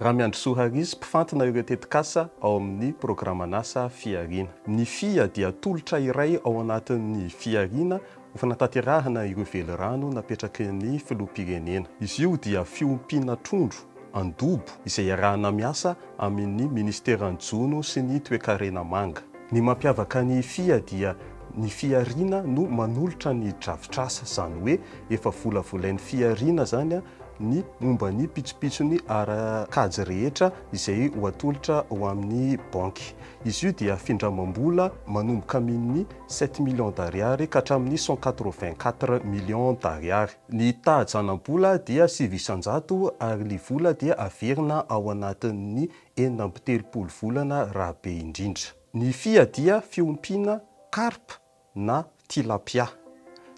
Ramiandrisoa Harizy, mpifantina ireo tetikasa ao amin'ny programan'asa Fihariana. Ny fia dia tolotra iray ao anatin'ny fihariana ho fanatanterahana ireo velirano napetraky ny Filoham-pirenena. Izy io dia fiompiana trondro Andobo, izay iarahana miasa amin' ny Ministeran'ny Jono sy ny Toekarena Manga. Ny mampiavaka ny fia dia ny fihariana no manolotra ny drafitr'asa, izany hoe efa volavolain'ny fihariana izany ny momba ny pitsopitsony ara-kajy rehetra izay ho atolotra ho amin'ny banky. Izy io dia findramam-bola manomboka amin' ny sept millions d'ariary ka hatramin'ny cent quatre-vingt-quatre millions d'ariary. Ny taha-janam-bola dia sivy isan-jato ary ny vola dia averina ao anatin'ny enina amby telopolo volana raha be indrindra. Ny fia dia fiompiana carpe na tilapia.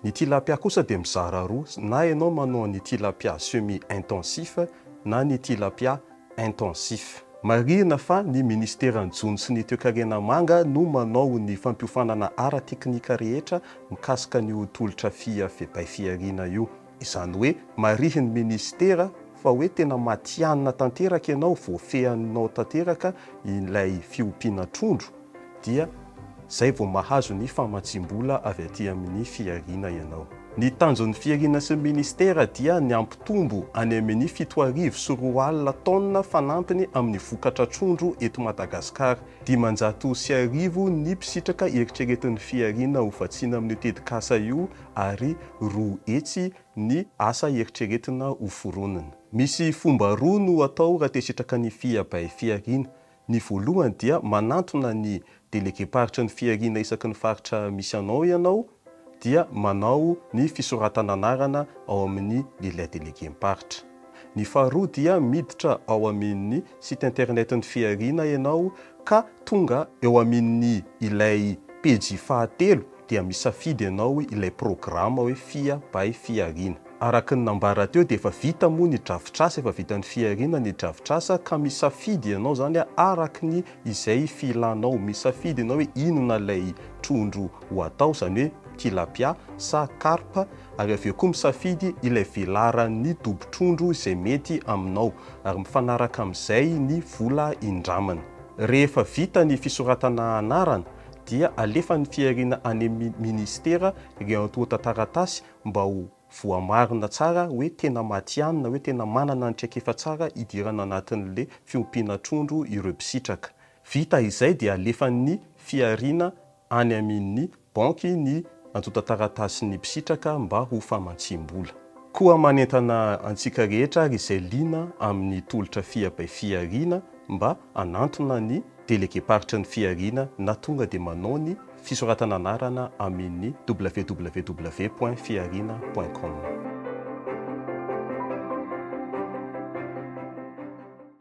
Ny tilapia kosa dia mizara roa, na ianao manao ny tilapia semi-intensif na ny tilapia intensif. Marihina fa ny Ministeran'ny Jono sy ny Toekarena Manga no manao ny fampiofanana ara-teknika rehetra mikasika an'io tolotra fia febay fihariana io. Izany hoe marihin'ny Ministera fa hoe tena matihanina tanteraka ianao, voafehinao tanteraka ilay fiompiana trondro. dia izay vao mahazo ny famatsiam-bola avy aty amin'ny fihariana ianao. Ny tanjon'ny fihariana sy ny ministera dia ny hampitombo any amin'ny fito arivo sy roa alina tonnes fanampiny amin'ny vokatra trondro eto Madagasikara. Dimanjato sy arivo ny mpisitraka eritreretin'ny fihariana ho vatsiana amin'io tetikasa io ary roa hetsy ny asa eritreretina hoforonina. Misy fomba roa no atao raha te-hisitraka ny fihiabay fihariana. Ny voalohany dia manantona ny delegem-paritry ny fihariana isaky ny faritra misy anao ianao dia manao ny fisoratana anarana ao amin'ny lilin delegem-paritra. Ny faharoa dia miditra ao aminny site internet ny fihariana ianao ka tonga eo aminny ilay pejy fahatelo dia misafidy ianao ilay programa hoe Fia by Fiarina. Araka ny nambara teo dia efa vita moa ny drafitr'asa, efa vitan'i Fiarina ny drafitr'asa ka misafidy ianao izany araka ny izay filanao. Misafidy ianao hoe inona ilay trondro ho atao, izany hoe tilapia sa carpe, ary avy eo koa misafidy ilay velaran'ny dobo-trondro izay mety aminao, ary mifanaraka amin'izay ny vola indramana. Rehefa vita ny fisoratana anarana dia alefan'ny fihariana any amin'ny minisitera ireo antontan-taratasy mba ho voamarina tsara hoe tena matihanina, hoe tena manana ny traikefa tsara hidirana anatin'ilay fiompiana trondro ireo mpisitraka. Vita izay dia alefan'ny fihariana any amin'ny banky ny antontan-taratasin'ny mpisitraka mba ho famatsiam-bola. Koa manentana antsika rehetra ary izay liana amin'ny tolotra Fia by Fihariana mba hanantona ny. Delegemparitra ny fihariana na tonga dia manao ny fisoratana anarana amin www point fihariana point com.